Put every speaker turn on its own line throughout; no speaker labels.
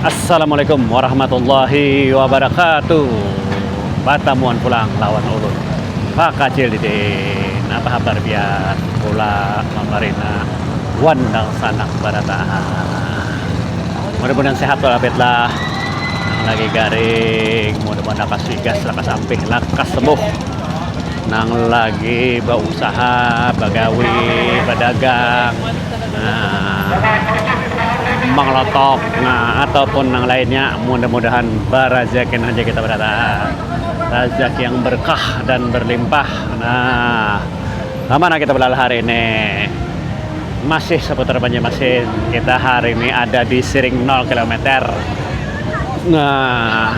Assalamualaikum warahmatullahi wabarakatuh Batamuan pulang lawan ulun Pakacil Didin Apa habar biar pula mamarina wan dangsanak barataan Mudah-mudahan sehat walafiyatlah Nang lagi garing mudah-mudahan lakas wigas, lakas ampih, lakas sembuh. nang lagi bausaha bagawi badagang manglotok atau pun nang lainnya mudah mudahan barajaki nang haja kita barataan rajaki yang berkah dan berlimpah nah sama nang kita belalah hari ini masih seputar banjarmasin kita hari ini ada di siring nol kilometer nah.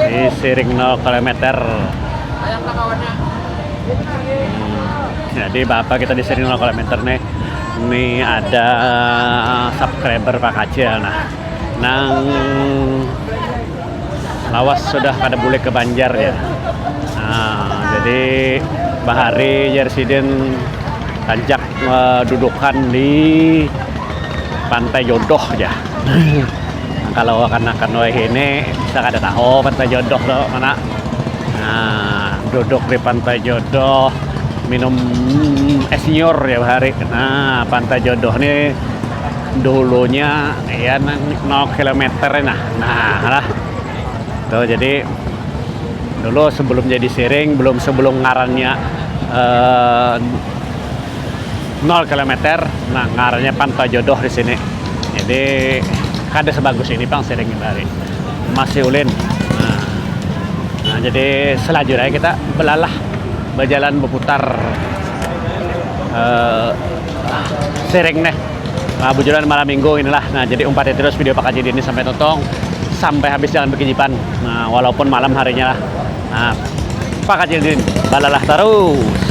di siring 0 km jadi bapak kita di siring 0 km nih ini ada subscriber Pak Kacil nah nang lawas sudah pada boleh ke Banjar ya nah, jadi bahari Jersidin tancak uh, eh, dudukan di Pantai Jodoh ya Nah, kalau kanakan wahini kita kada tahu Pantai Jodoh tu mana. Nah, duduk di Pantai Jodoh minum es nyiur tiap hari. Nah, Pantai Jodoh ni dulunya ya 0 kilometer nah. Nah, lah. Tu jadi dulu sebelum jadi siring, belum sebelum ngarannya uh, nol kilometer nah ngarannya pantai jodoh di sini jadi kada sebagus ini pang siring hari masih ulin nah, nah jadi selajur aja kita belalah berjalan berputar uh, eh, siring nih nah, bujuran malam minggu inilah nah jadi umpati terus video Pak Haji ini sampai totong sampai habis jalan berkejipan nah walaupun malam harinya lah nah Pak Haji ini balalah terus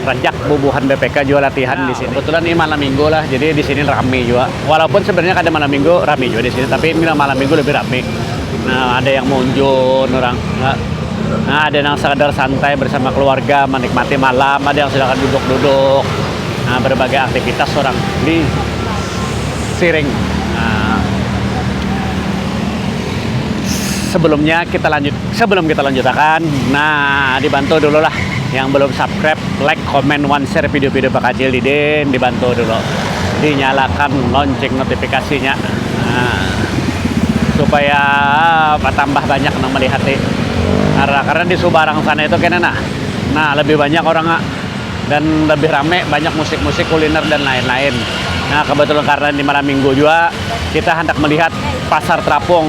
Rajak bubuhan BPK jua latihan di sini. Kebetulan ini malam minggu lah, jadi di sini rame jua. Walaupun sebenarnya kada malam minggu rame jua di sini, tapi ini malam minggu lebih rame. Nah, ada yang maunjun orang, nah ada nang sekadar santai bersama keluarga menikmati malam, ada yang silakan duduk-duduk. Nah, berbagai aktivitas orang di Siring. Nah, sebelumnya kita lanjut. Sebelum kita lanjutakan, nah dibantu dulu lah yang belum subscribe, like, comment, one share video-video bakacil didin dibantu dulu dinyalakan lonceng notifikasinya nah, supaya bertambah banyak nang melihati karena, karena di subarang sana itu kena nah nah lebih banyak orang dan lebih rame banyak musik-musik kuliner dan lain-lain nah kebetulan karena ini malam minggu juga kita hendak melihat pasar terapung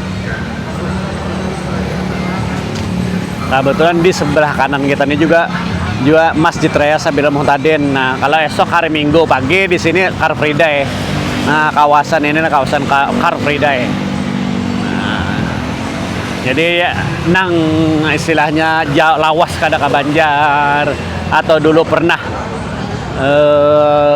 Nah, betulan di sebelah kanan kita ini juga juga Masjid Raya Sabila Muhtadin. Nah, kalau esok hari Minggu pagi di sini Car Free Day. Nah, kawasan ini nah, kawasan Car Free Day. Nah, jadi nang istilahnya jauh lawas kada ke Banjar atau dulu pernah eh,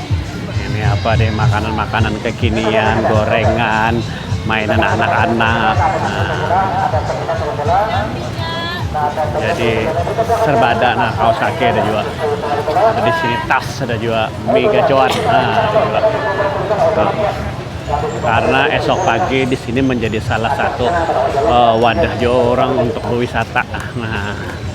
ini apa deh makanan makanan kekinian gorengan mainan anak anak jadi serbada nah kaos kaki ada juga ada di sini tas ada juga mie gacoan nah, karena esok pagi di sini menjadi salah satu uh, wadah juga orang untuk berwisata nah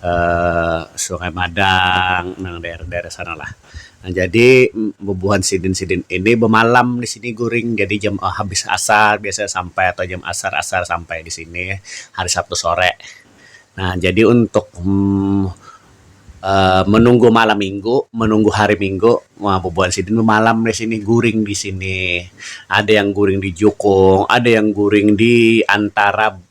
um Sungai Madang nang daerah-daerah sana lah jadi bubuhan sidin-sidin ini bamalam di sini guring jadi jam habis asar biasa sampai atau jam asar-asar sampai di sini hari Sabtu sore nah jadi untuk um menunggu malam minggu menunggu hari minggu wah bubuhan sidin bamalam di sini guring di sini ada yang guring di jukung ada yang guring di antara.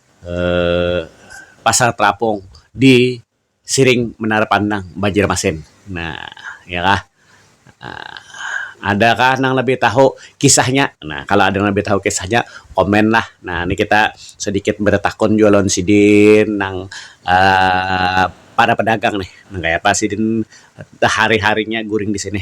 pasar terapung di siring menara pandang banjarmasin nah iya kah ada kah nang labih tahu kisah nya nah kalo ada nang labih tahu kisah nya komen lah nah ni kita sedikit betakun jua lawan sidin nang um para pedagang nih nang kaya apa sidin sehari harinya guring disini.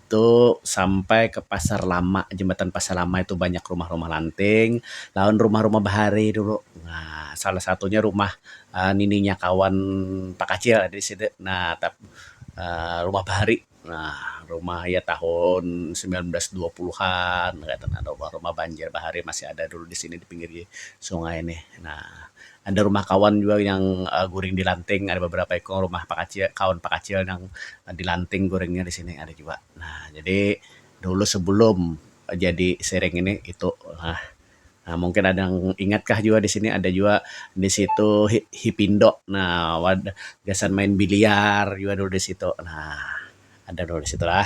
itu sampai ke pasar lama jembatan pasar lama itu banyak rumah-rumah lanting lawan rumah-rumah bahari dulu nah salah satunya rumah um nininya kawan takacil ada di situ nah tap um rumah bahari nah rumah iya tahun samilan ratus dua puluhan kaitu nah rumah-rumah banjir bahari masih ada dulu di sini di pinggir sungai nih nah. Ada rumah kawan jua yang guring di lanting ada beberapa ikung rumah pakacil kawan pakacil nang di lanting guringnya di sini ada jua nah jadi dulu sebelum jadi siring ini itu lah mungkin ada nang ingat kah jua di sini ada jua di situ hipindo nah wadah gasan main biliar jua dulu di situ nah ada dulu di situ lah.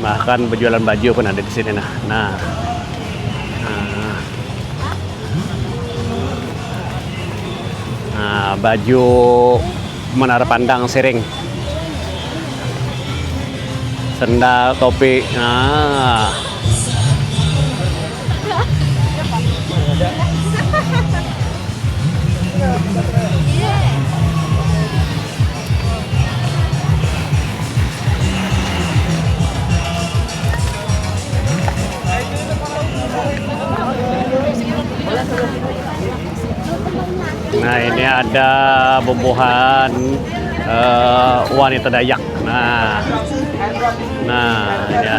bahkan berjualan baju pun ada di sini nah nah nah, nah baju menara pandang siring sendal topi nah Nah ini ada bubuhan uh, wanita Dayak. Nah, nah ya.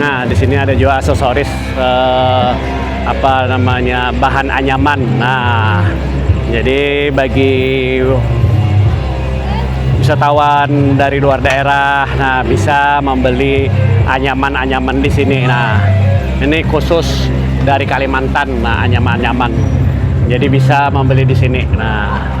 Nah, di sini ada jua aksesoris eh, apa namanya bahan anyaman. Nah, jadi bagi wisatawan dari luar daerah, nah bisa membeli anyaman-anyaman di sini. Nah, ini khusus dari Kalimantan, nah anyaman-anyaman. Jadi bisa membeli di sini. Nah.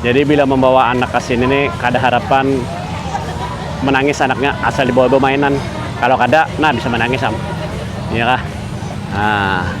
Jadi bila mambawa anak ka sini ni kada harapan manangis anaknya asal dibawa bamainan. Kalau
kada nah bisa manangis am. Iya kah? Nah.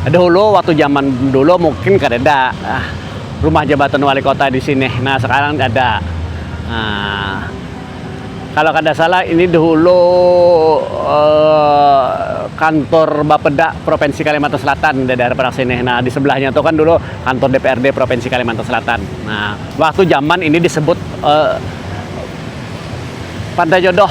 Dahulu waktu zaman dulu mungkin kadada rumah jabatan wali kota di sini nah sekarang ada kalau kada salah ini dahulu kantor bapeda provinsi kalimantan selatan di daerah parak sini nah di sebelahnya tu kan dulu kantor DPRD provinsi kalimantan selatan nah waktu zaman ini disebut. Pantai Jodoh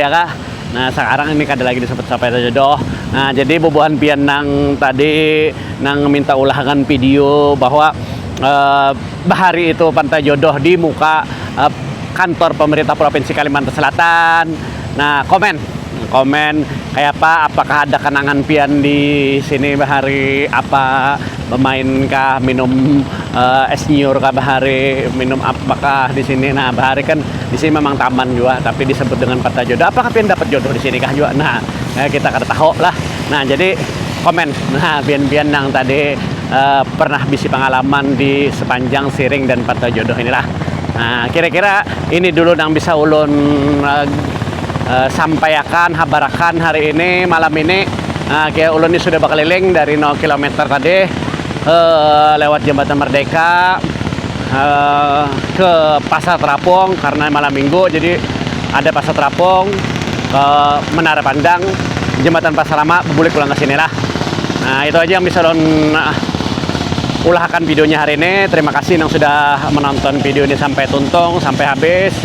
ya kah nah sakarang ini kada lagi disebut Pantai Jodoh nah jadi bubuhan pian nang tadi nang minta ulahakan video bahwa uh, bahari itu Pantai Jodoh di muka uh, kantor pemerintah provinsi Kalimantan Selatan nah komen Komen, kayapa apakah ada kanangan pian di sini bahari apa bamain kah minum es nyiur kah bahari minum apa kah di sini nah bahari kan di sini memang taman jua tapi disebut dengan kota jodoh apakah pian dapat jodoh di sini kah jua nah kita kada tahu lah nah jadi komen nah pian pian nang tadi pernah bisi pangalaman di sepanjang siring dan kota jodoh ini lah nah kira kira ini dulu nang bisa ulun. sampaiakan habarakan hari ini malam ini kaya ulun ni sudah bakaliling dari nol kilometer tadi lewat jambatan merdeka ke pasar terapung karna malam minggu jadi ada pasar terapung ke menara pandang jambatan pasar lama bulik pulang kesini lah nah itu aja yang bisa ulun ulahakan video nya hari ini terima kasih nang sudah menonton video ni sampai tuntung sampai habis.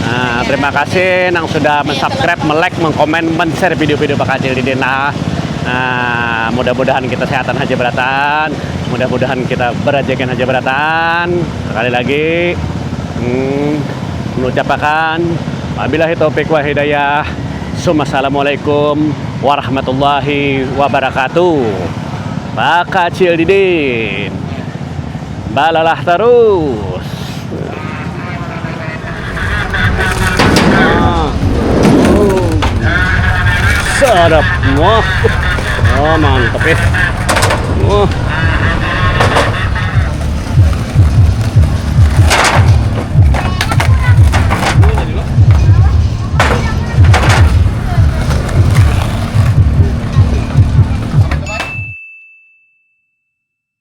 Nah, terima kasih nang sudah mensubscribe, melek, mengkomen, menshare video-video bakal Acil Didin lah. Nah, mudah-mudahan kita sehatan haja beratan, mudah-mudahan kita berajekan haja beratan. Sekali lagi, hmm, menucapakan wabillahi taufik wa hidayah. Assalamualaikum warahmatullahi wabarakatuh. Bakal Acil Didin. balalah tarus sadap wah oh mantep ya wah